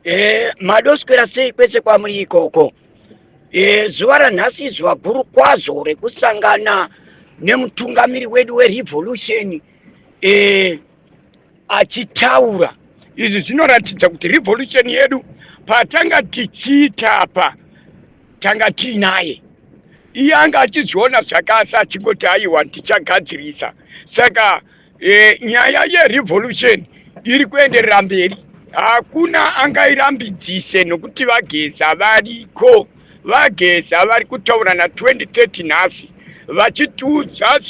Eh, madoswera sei kwese kwamuri ikoko eh, zuva ranhasi izuva guru kwazvo rekusangana nemutungamiri wedu werevolution eh, achitaura izvi zvinoratidza kuti revolution yedu patanga tichiita apa tanga tiinaye iye anga achizviona zvakasa achingoti aiwa ndichagadzirisa saka e, nyaya yerevolution iri kuenderera mberi hakuna angairambidzise nokuti vageza variko vageza vari kutaura na 2030 nhasi vachitiudza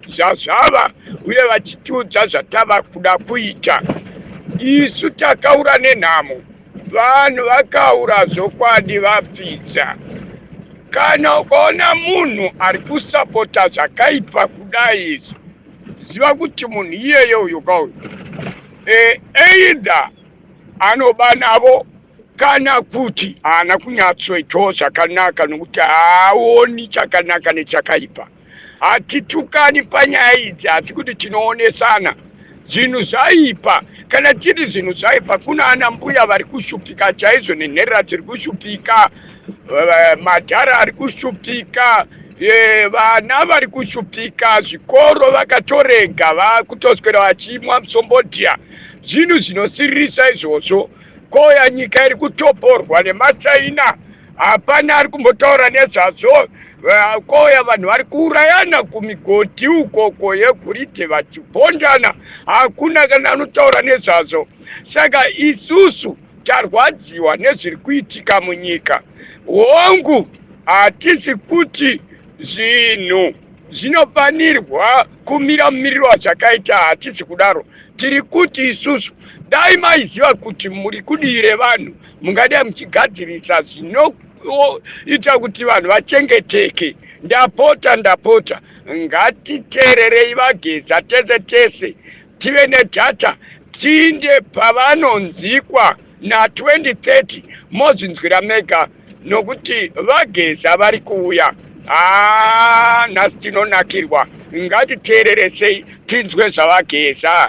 zvazvava uye vachitiudza zvatava kuda kuita isu takaura nenhamo vanhu vakaura zvokwadi vapfidza kana ukaona munhu ari kusapota zvakaipa kudai izvi ziva kuti munhu iyeye uyo ka uyo e, either anoba navo kana kuti haana kunyatsoitawo zvakanaka nokuti haaoni chakanaka nechakaipa hatitukani panyaya idzi asi kuti tinoonesana zvinhu zvaipa kana tiri zvinhu zvaipa kuna ana mbuya vari kushupika chaizvo nenherera dziri kushupika eh, madhara ari kushupika eh, vana vari kushupika zvikoro vakatorega vakutoswera vachimwa musombodhiya zvinhu zvinosiririsa izvozvo koya nyika iri kutoporwa nemachaina hapana ari kumbotaura nezvazvo koya vanhu vari kuurayana kumigodhi ukoko yegoridhe vachibhondana hakuna kana anotaura nezvazvo saka isusu Tarwadziwa nezviri kuitika munyika. Hongu, hatisi kuti zvinhu zvinofanirwa kumira mumiriro wazvakaita, hatisi kudaro. Tiri kuti isusu dai maiziva kuti muri kudii revanhu, mungadai muchigadzirisa zvinoita kuti vanhu vachengeteke. Ndapota, ndapota, ngatiteererei VaGeza tese tese. tive nedata tiinde pavanonzikwa na 2030 mozvinzwira mega nokuti vageza vari kuuya haa nhasi tinonakirwa ngatiteereresei tinzwe zvavageza